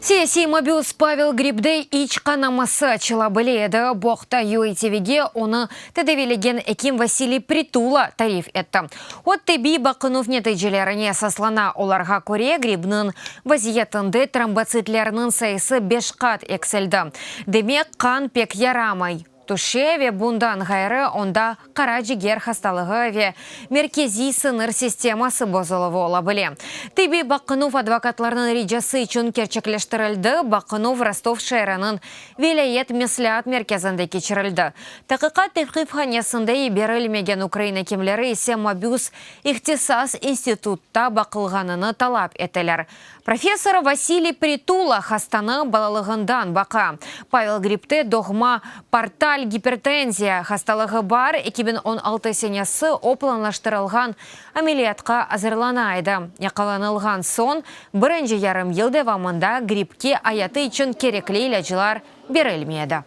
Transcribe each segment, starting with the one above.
Siyasiy mabüs Pavel Gribde iç qanaması açıla bile edi, bu aqta UATVge onı tedaviylegen ekim Vasiliy Pritula tarif etti. O, tibbiy baqınuv neticelerine esaslana, olarğa köre, Gribniñ vaziyetinde trombotsitlerniñ sayısı beş qat eksildi, demek, qan pek yaramay. tüşe ve bundan ğayrı onda qara ciger hastalığı ve merkeziy sıñır sisteması bozuluvı ola bile. Tibbiy baqınuv advokatlarnıñ ricası içün kerçekleştirildi, baqınuv Rostov şeeriniñ vilâyet mesleat merkezinde keçirildi, taqiqat tevqifhanesinde yiberilmegen ukrain ekimleri ise mabüs ihtisas institutta baqılğanını talap eteler, Professor Vasiliy Pritula hastanı balalığından baqa. Pavel gripte doğma portal gipertenziya hastalığı bar, eki biñ on altı senesi o planlaştırılğan ameliyatqa azırlana edi. Yaqalanılğan soñ birinci yarım yıl devamında gripke ayatı içün kerekli ilâclar berilmedi.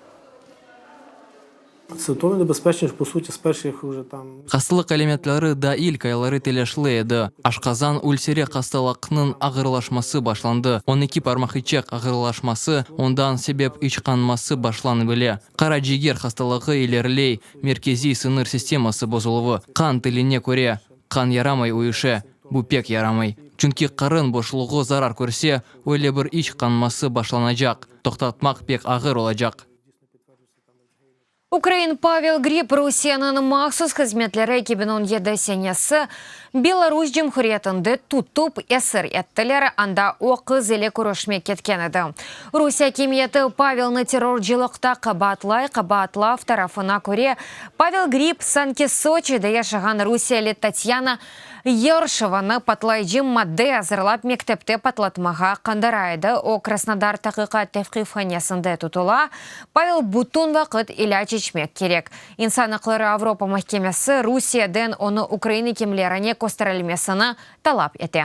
Hastalıq alâmetleri daa ilk ayları telâşlı edi, aşqazan ülseri hastalaqnıñ ağırlaşması başlandı, on eki parmaqiçek ağırlaşması, ondan sebep içqanması başlanı bile. Qaraciger hastalığı ileriley, merkeziy siñir sisteması bozuluvı, qan tiline köre, qan yaramay uyuşe, bu pek yaramay, çünki qarın boşluğı zarar körse, öyle bir içqanması başlanacaq, toqtatmaq pek ağır olacaq. Ukrain Pavel Grib Rusiyeniñ mahsus hızmetleri eki biñ on yedi senesi Belarus Cumhuriyetinde tutıp, esir ettiler, anda o qız ile körüşmek ketken edi. Rusiye akimiyeti Pavelni terrorcılıqta qabaatlay, qabaatlav tarafına köre, Pavel Grib sanki Soçide yaşağan rusiyeli Tatyana Yarışevnı patlayıcı madde azırlap mektepte patlatmağa qandara edi, o Krasnodar taqiqat tevqifhanesinde tutula, Pavel bütün vaqıt ilâc içmek kerek. İnsan aqları Avropa mahkemesi Rusiyeden onı Ukraina kimlerine kösterilmesini talap ete.